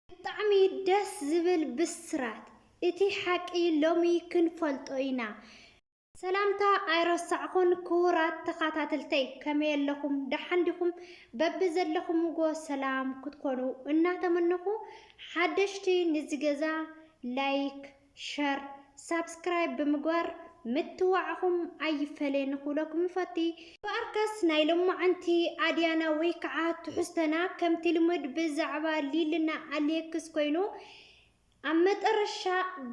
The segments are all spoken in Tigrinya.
ብጣዕሚ ደስ ዝብል ብስራት እቲ ሓቂ ሎሚ ክንፈልጦ ኢና። ሰላምታ ኣይረሳዕኩን ክቡራት ተኻታተልተይ ከመይ ኣለኹም ደሓን ዲኹም በቢ ዘለኹምዎ ሰላም ክትኮኑ እናተመነኹ ሓደሽቲ ንዚ ገዛ ላይክ ሸር ሳብስክራይብ ብምግባር ምትዋዕኹም ኣይፈለየኒ ክብለኩም ይፈቲ። እምበኣርከስ ናይ ሎማዓንቲ ኣድያና ወይ ከዓ ትሕዝቶና ከምቲ ልሙድ ብዛዕባ ሊልና ኣሌክስ ኮይኑ ኣብ መጠረሻ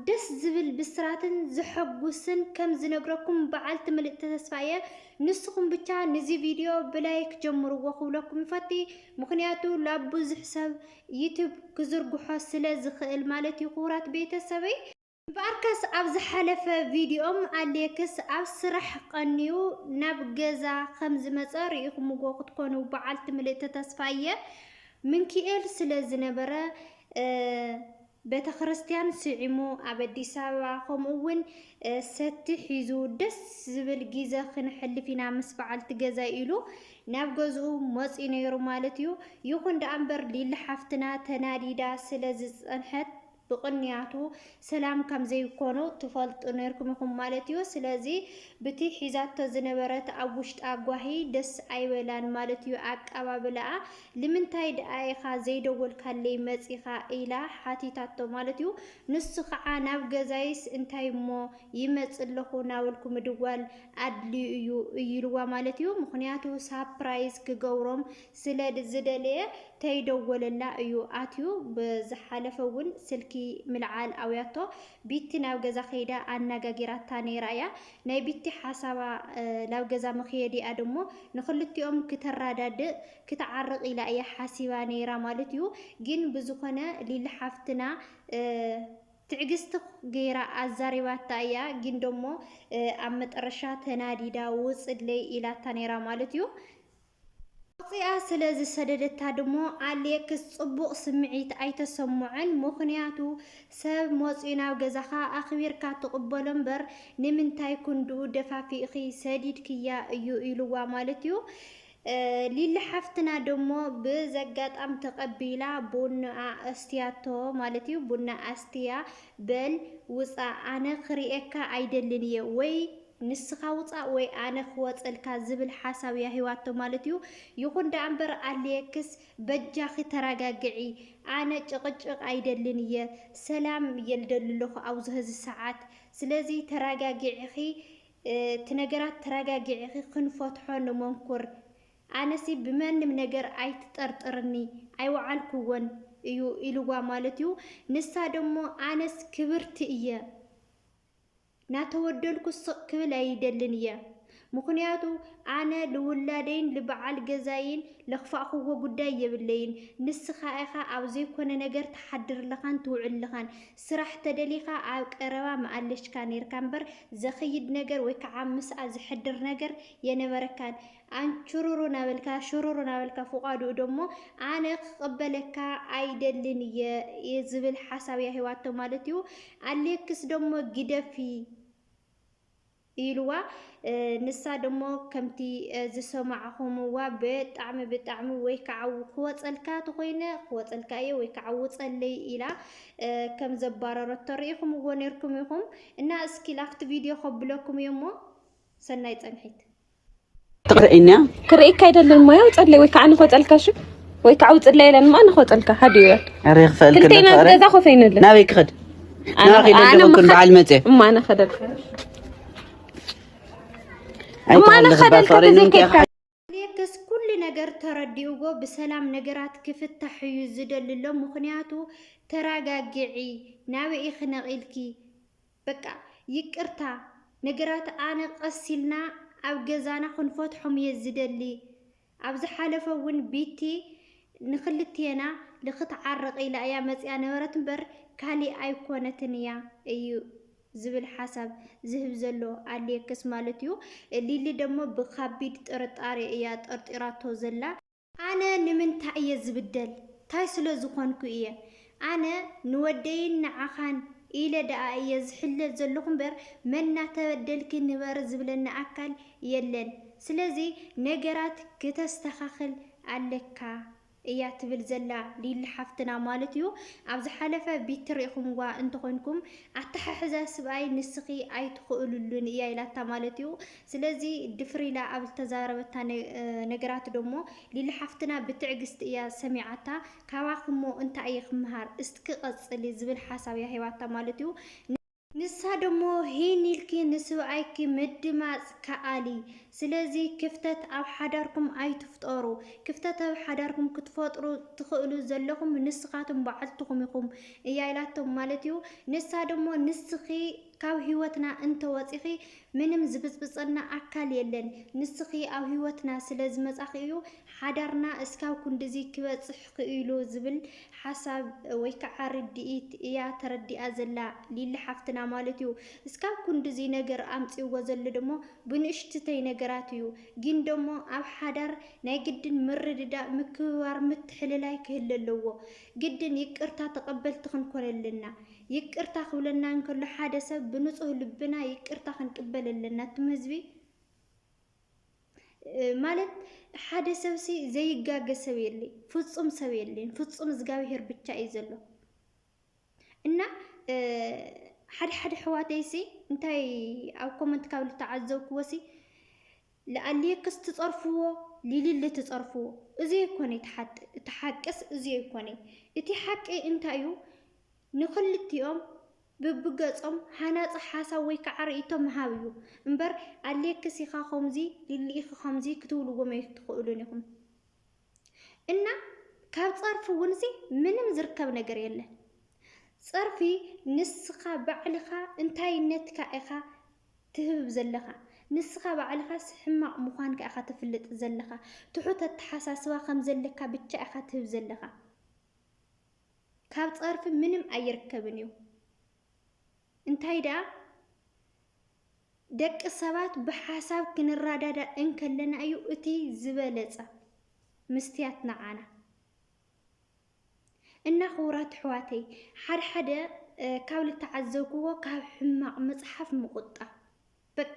ደስ ዝብል ብስራትን ዘሐጉስን ከም ዝነግረኩም በዓልቲ ምልእቲ ተስፋ እየ። ንስኹም ብቻ ንዚ ቪድዮ ብላይክ ጀምርዎ ክብለኩም ይፈቲ ምኽንያቱ ላብ ብዙሕ ሰብ ዩቱብ ክዝርግሖ ስለ ዝኽእል ማለት እዩ ክቡራት ቤተሰበይ። እምበኣርከስ ኣብ ዝሓለፈ ቪድዮም ኣሌክስ ኣብ ስራሕ ቐንዩ ናብ ገዛ ከም ዝመፀ ርኢኹምዎ ክትኮኑ በዓልቲ ምልእቲ ተስፋ እየ። ምንኪኤል ስለ ዝነበረ ቤተክርስትያን ስዒሙ ኣብ ኣዲስ ኣበባ ከምኡ ውን ሰቲ ሒዙ ደስ ዝብል ጊዘ ክነሕልፍ ኢና ምስ በዓልቲ ገዛይ ኢሉ ናብ ገዝኡ መፅዩ ነይሩ ማለት እዩ። ይኹን ደኣ እምበር ሊሊ ሓፍትና ተናዲዳ ስለ ዝፀንሐት ብቕንያቱ ሰላም ከም ዘይኮኑ ትፈልጡ ነይርኩም ኢኹም ማለት እዩ። ስለዚ ብቲ ሒዛቶ ዝነበረት ኣብ ውሽጣ ጓሂ ደስ ኣይበላን ማለት እዩ ኣቀባብላኣ። ልምንታይ ድኣ ኢኻ ዘይደወልካለይ መጺኻ ኢላ ሓቲታቶ ማለት እዩ። ንሱ ኸዓ ናብ ገዛይስ እንታይ እሞ ይመጽእ ኣለኹ ናበልኩ ምድዋል ኣድልዩ እዩ ኢሉዋ ማለት እዩ። ምኽንያቱ ሳፕራይዝ ክገብሮም ስለ ዝደለየ ተይደወለላ እዩ ኣትዩ። ብዝሓለፈ እውን ስልኪ ምልዓል ኣውያቶ ቢቲ ናብ ገዛ ከይዳ ኣናጋጊራታ ነይራ እያ። ናይ ቢቲ ሓሳባ ላብ ገዛ ምክየዲኣ ደሞ ንክልቲኦም ክተራዳድእ ክትዓርቅ ኢላ እያ ሓሲባ ነይራ ማለት እዩ ጊን ብዝኮነ ሊሊ ሓፍትና ትዕግስቲ ገይራ ኣዛሪባታ እያ ጊን ደሞ ኣብ መጠረሻ ተናዲዳ ውፅለይ ኢላታ ነይራ ማለት እዩ። ኣውጺኣ ስለ ዝሰደደታ ድሞ ኣሌክስ ጽቡቕ ስምዒት ኣይተሰምዖን፣ ምኽንያቱ ሰብ መጺኡ ናብ ገዛኻ ኣኽቢርካ ትቕበሎ እምበር ንምንታይ ክንድኡ ደፋፊእኺ ሰዲድክያ እዩ ኢሉዋ ማለት እዩ። ሊሊ ሓፍትና ደሞ ብዘጋጣም ተቐቢላ ቡንኣ ኣስትያቶ ማለት እዩ። ቡና ኣስትያ በል ውጻእ ኣነ ክርእየካ ኣይደልን እየ ወይ ንስኻ ውጻእ ወይ ኣነ ክወጸልካ ዝብል ሓሳብ እያ ሂባቶ ማለት እዩ። ይኹን ደኣ እምበር ኣሌክስ በጃኺ ተራጋግዒ ኣነ ጭቕጭቕ ኣይደልን እየ ሰላም እየ ልደሊ ኣለኹ ኣብዚ ሀዚ ሰዓት ስለዚ ተራጋጊዕኺ እቲ ነገራት ተራጋጊዕኺ ክንፈትሖ ንመንኩር ኣነሲ ብመንም ነገር ኣይትጠርጥርኒ ኣይወዓልኩዎን እዩ ኢልዋ ማለት እዩ። ንሳ ደሞ ኣነስ ክብርቲ እየ ናተወደልኩ ስቅ ክብል ኣይደልን እየ ምኩንያቱ ኣነ ልውላደይን ልባዓል ገዛይን ለክፋእክዎ ጉዳይ የብለይን ንስካ ኢካ ኣብ ዘይኮነ ነገር ትሓድር ለካን ትውዕል ለካን ስራሕ ተደሊካ ኣብ ቀረባ ምኣለሽካ ነርካ እምበር ዘክይድ ነገር ወይካዓ ምስኣ ዝሕድር ነገር የነበረካን ኣንቹሩሩ ናበልካ ሹሩሩ ናበልካ ፍቓዱኡ ደሞ ኣነ ክቕበለካ ኣይደልን እየ ዝብል ሓሳብ እያ ሂባቶ ማለት እዩ። ኣሌክስ ደሞ ግደፊ ኢልዋ ንሳ ደሞ ከምቲ ዝሰማዕኹምዋ ብጣዕሚ ብጣዕሚ ወይ ከዓ ክወፀልካ ተኾይነ ክወፀልካ እየ ወይ ከዓ ውፀለይ ኢላ ከም ዘባረረቶ ርኢኹምዎ ነይርኩም ኢኹም እና እስኪ ላፍቲ ቪድዮ ከብለኩም እየ እሞ ሰናይ ፀንሒት ትቕርኢኛ ክርእካ ኣይደልን ሞያ ውፀለይ ወይ ከዓ ንኸፀልካ ሽ ወይ ከዓ ውፅለይ የለን ማ ንኸፀልካ ሓደ እዩ ኣረ ክፈል ክልቴና ገዛ ኮፍ ኣይንልን ናበይ ክኸድ ናበይ ክኸድ ኩን በዓል መፀ እማ ኣነ ከደልካ እማ ኣነ ከደልካ ተዘይከድካ ሌክስ ኩሉ ነገር ተረዲኡዎ ብሰላም ነገራት ክፍታሕ እዩ ዝደልሎ ምክንያቱ ተረጋግዒ ናበይ ኢኺ ነቒልኪ በቃ ይቅርታ ነገራት ኣነ ቀስ ኢልና ኣብ ገዛና ክንፈትሖም እየ ዝደሊ ኣብ ዝሓለፈ እውን ቢቲ ንክልቴና ልክትዓረቅ ኢላ እያ መፂኣ ነበረት እምበር ካሊእ ኣይኮነትን እያ እዩ ዝብል ሓሳብ ዝህብ ዘሎ ኣሌክስ ማለት እዩ። ሊሊ ደግሞ ብካቢድ ጥርጣሬ እያ ጠርጢራቶ ዘላ። ኣነ ንምንታይ እየ ዝብደል? ታይ ስለ ዝኾንኩ እየ? ኣነ ንወደይን ንዓኻን ኢለ ደኣ እየ ዝሕለ ዘለኹ እምበር መን እናተበደልኪ ንበሪ ዝብለኒ ኣካል የለን። ስለዚ ነገራት ክተስተኻኽል ኣለካ እያ ትብል ዘላ ሊሊ ሓፍትና ማለት እዩ። ኣብ ዝሓለፈ ቢቲ ሪእኹምዋ እንተኾይንኩም ኣተሓሕዛ ስብኣይ ንስኺ ኣይትኽእልሉን እያ ኢላታ ማለት እዩ። ስለዚ ድፍር ኢላ ኣብ ዝተዛረበታ ነገራት ዶሞ ሊሊ ሓፍትና ብትዕግስቲ እያ ሰሚዓታ ካባኹሞ እንታይ እየ ክመሃር እስትኪ ቀፅሊ ዝብል ሓሳብ እያ ሂባታ ማለት እዩ። ንሳ ደሞ ሂን ኢልኪ ንስብኣይኪ ምድማፅ ከኣሊ ስለዚ ክፍተት ኣብ ሓዳርኩም ኣይትፍጠሩ ክፍተት ኣብ ሓዳርኩም ክትፈጥሩ ትኽእሉ ዘለኹም ንስኻትም በዓልትኹም ኢኹም እያ ኢላቶም ማለት እዩ። ንሳ ደሞ ንስኺ ካብ ሂወትና እንተወፂኺ ምንም ዝብጽብጸና ኣካል የለን ንስኪ ኣብ ሂወትና ስለ ዝመጻኪ እዩ ሓዳርና እስካብ ኩንድዚ ክበጽሕ ክኢሉ ዝብል ሓሳብ ወይ ከዓ ርድኢት እያ ተረዲኣ ዘላ ሊሊ ሓፍትና ማለት እዩ እስካብ ኩንድዚ ነገር ኣምጺእዎ ዘሎ ደሞ ብንእሽትተይ ነገራት እዩ ግን ደሞ ኣብ ሓዳር ናይ ግድን ምርድዳእ ምክብባር ምትሕልላይ ክህለ ኣለዎ ግድን ይቅርታ ተቀበልቲ ክንኮን ኣለና ይቅርታ ክብለና እንከሎ ሓደ ሰብ ብንጹህ ልብና ይቅርታ ክንቅበል ኣለና እቱም ህዝቢ ማለት ሓደ ሰብ ሲ ዘይጋገ ሰብ የለይ፣ ፍጹም ሰብ የለይ፣ ፍጹም እግዚኣብሄር ብቻ እዩ ዘሎ እና ሓደ ሓደ ሕዋተይ ሲ እንታይ ኣብ ኮመንት ካብ ዝተዓዘብክዎ ሲ ልኣሌክስ ትጸርፍዎ ሊሊሊ ትጸርፍዎ እዚ ኣይኮነይ እቲ ሓቅስ እዚ ኣይኮነይ እቲ ሓቂ እንታይ እዩ ንክልቲኦም ብብገጾም ሃናጺ ሓሳብ ወይ ከዓ ርእይቶ ምሃብ እዩ እምበር ኣሌክስ ኢካ ከምዚ ሊሊ ኢኪ ከምዚ ክትብልዎም ኣይትክእሉን ኢኩም እና ካብ ጸርፊ እውን ሲ ምንም ዝርከብ ነገር የለን ጸርፊ ንስኻ ባዕልኻ እንታይነትካ ኢኻ ትህብብ ዘለኻ ንስኻ ባዕልኻስ ሕማቕ ምዃንካ ኢኻ ተፍልጥ ዘለኻ ትሑት ኣተሓሳስባ ከም ዘለካ ብቻ ኢኻ ትህብ ዘለኻ ካብ ጸርፊ ምንም ኣይርከብን እዩ እንታይ ደኣ ደቂ ሰባት ብሓሳብ ክንራዳዳ እንከለና እዩ እቲ ዝበለጸ ምስትያት ንዓና እና ክቡራት ኣሕዋተይ ሓደ ሓደ ካብ ልተዓዘብክዎ ካብ ሕማቕ ምጽሓፍ ምቑጣብ በቃ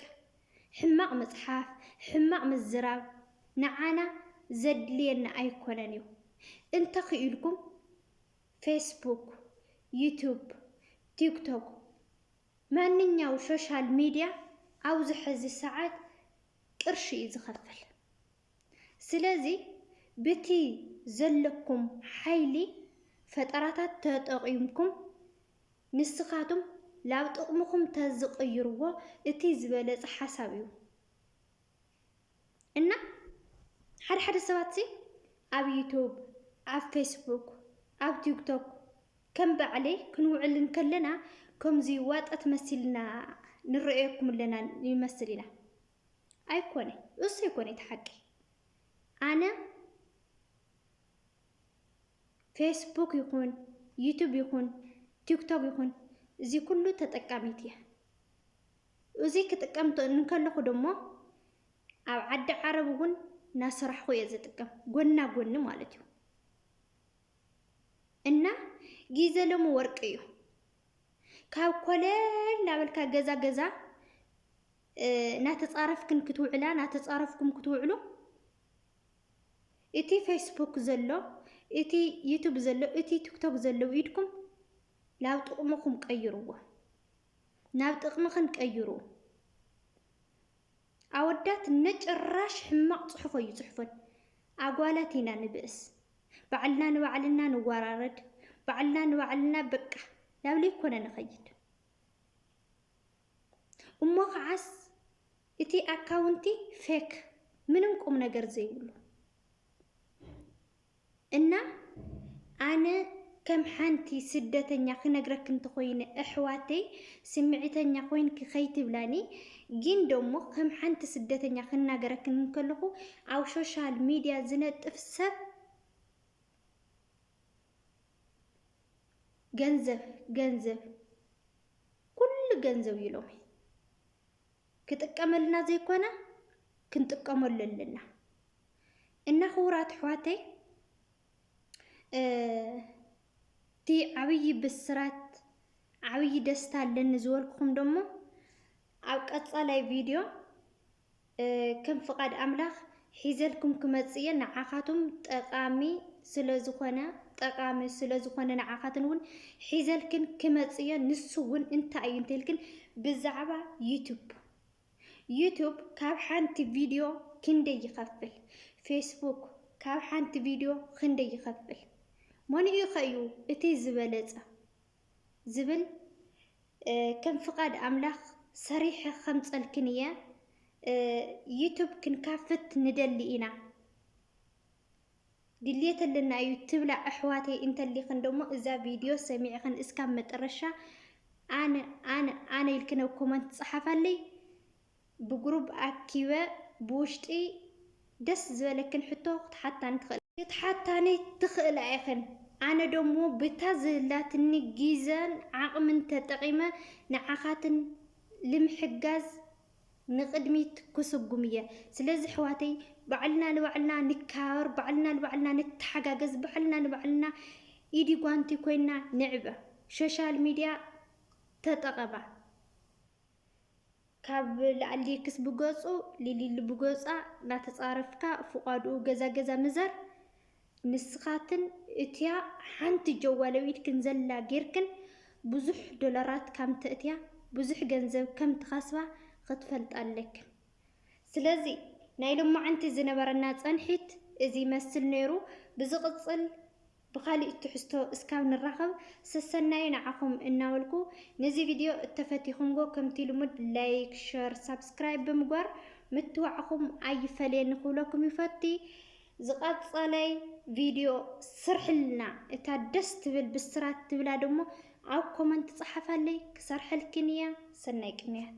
ሕማቕ ምጽሓፍ ሕማቕ ምዝራብ ንዓና ዘድልየና ኣይኮነን እዩ እንተ ክኢልኩም ፌስቡክ ዩቱብ ቲክቶክ ማንኛው ሾሻል ሚድያ ኣብዚ ሕዚ ሰዓት ቅርሺ እዩ ዝኸፍል ስለዚ ብቲ ዘለኩም ሓይሊ ፈጠራታት ተጠቂምኩም ንስካትም ላብ ጥቅምኩም ተዝቅይርዎ እቲ ዝበለጸ ሓሳብ እዩ እና ሓደ ሓደ ሰባት ሲ ኣብ ዩቱብ ኣብ ፌስቡክ ኣብ ቲክቶክ ከም ባዕለይ ክንውዕል እንከለና ከምዚ ዋጠት መሲልና ንረእየኩም ኣለና ይመስል ኢና ኣይኮነ እሱ ኣይኮነ እቲ ሓቂ ኣነ ፌስቡክ ይኹን ዩቱብ ይኹን ቲክቶክ ይኹን እዚ ኩሉ ተጠቃሚት እያ እዚ ክጥቀም እንከለኹ ድማ ኣብ ዓዲ ዓረብ እውን እናሰራሕኹ እየ ዝጥቀም ጎና ጎኒ ማለት እዩ እና ጊዜ ሎሚ ወርቂ እዩ ካብ ኮለል እናበልካ ገዛ ገዛ ናተጻረፍክን ክትውዕላ ናተጻረፍኩም ክትውዕሉ እቲ ፌስቡክ ዘሎ እቲ ዩቱብ ዘሎ እቲ ቲክቶክ ዘሎ ኢድኩም ናብ ጥቕምኹም ቀይርዎ ናብ ጥቕምኽን ቀይሩ ኣወዳት ነጭራሽ ሕማቕ ጽሑፍ እዩ ጽሑፈን ኣጓላት ኢና ንብእስ ባዕልና ንባዕልና ንወራረድ ባዕልና ንባዕልና በቃ ናብ ለይኮነ ንኸይድ እሞ ከዓስ እቲ ኣካውንቲ ፌክ ምንም ቁም ነገር ዘይብሉ እና ኣነ ከም ሓንቲ ስደተኛ ክነግረክ እንተኮይነ እሕዋተይ ስምዒተኛ ኮይንኪ ከይትብላኒ ግን ደሞ ከም ሓንቲ ስደተኛ ክናገረክ እንከለኹ ኣብ ሶሻል ሚድያ ዝነጥፍ ሰብ ገንዘብ ገንዘብ ኩሉ ገንዘብ እዩ ሎሚ ክጥቀመልና ዘይኮነ ክንጥቀመሉ ኣለና እና ክቡራት ኣሕዋተይ እቲ ዓብዪ ብስራት ዓብዪ ደስታ ኣለኒ ዝበልኩኹም ደሞ ኣብ ቀፃላይ ቪድዮ ከም ፍቃድ ኣምላክ ሒዘልኩም ክመጽእ እየ ንዓካቱም ጠቃሚ ስለ ዝኮነ ጠቃሚ ስለ ዝኮነ ንዓካትን ውን ሒዘልክን ክመጽእ እየ ንሱ ውን እንታይ እዩ እንተልክን ብዛዕባ ዩቱብ ዩቱብ ካብ ሓንቲ ቪድዮ ክንደይ ይኸፍል? ፌስቡክ ካብ ሓንቲ ቪድዮ ክንደይ ይኸፍል? ሞንኡ ኸ እዩ እቲ ዝበለጸ? ዝብል ከም ፍቃድ ኣምላክ ሰሪሐ ከምፀልክን እየ ዩቱብ ክንካፍት ንደሊ ኢና ድልየት ኣለና እዩ ትብላ ኣሕዋተይ እንተሊክን ደሞ እዛ ቪድዮ ሰሚዕክን እስካብ መጠረሻ ኣነ ኣነ ኣነ ኢልክን ኣብ ኮመንት ፀሓፋለይ ብግሩብ ኣኪበ ብውሽጢ ደስ ዝበለክን ሕቶ ክትሓታኒ ትኽእላ። ክትሓታኒ ትኽእላ ኢኽን። ኣነ ደሞ ብታ ዝህላትኒ ጊዘን ዓቕምን ተጠቒመ ንዓኻትን ልምሕጋዝ ንቕድሚት ክስጉም እየ። ስለዚ ኣሕዋተይ ባዕልና ንባዕልና ንከባበር፣ ባዕልና ንባዕልና ንተሓጋገዝ፣ ባዕልና ንባዕልና ኢዲ ጓንቲ ኮይና ንዕበ። ሾሻል ሚድያ ተጠቐማ። ካብ ላኣሊ ክስ ብገጹ ሊሊሊ ብገጻ ናተጻረፍካ ፍቃድኡ ገዛ ገዛ ምዘር ንስካትን እቲያ ሓንቲ ጀዋል ኣብ ኢድክን ዘላ ጌርክን ብዙሕ ዶላራት ካም ተእትያ ብዙሕ ገንዘብ ከም ትከስባ ክትፈልጣ ኣለክን ስለዚ ናይ ሎማዓንቲ ዝነበረና ጸንሒት እዚ ይመስል ኔሩ ብዝቅጽል ብኻሊእ ትሕዝቶ እስካብ ንራኸብ ሰሰናዩ ንዓኹም እናበልኩ ነዚ ቪድዮ እተፈቲኹምጎ ከምቲ ልሙድ ላይክ ሸር ሳብስክራይብ ብምግባር ምትዋዕኹም ኣይፈለየኒ ክብለኩም ይፈቲ ዝቐጸለይ ቪድዮ ስርሕልና እታ ደስ ትብል ብስራት ትብላ ደሞ ኣብ ኮመንት ጸሓፋለይ ክሰርሐልክን እያ ሰናይ ቅንያት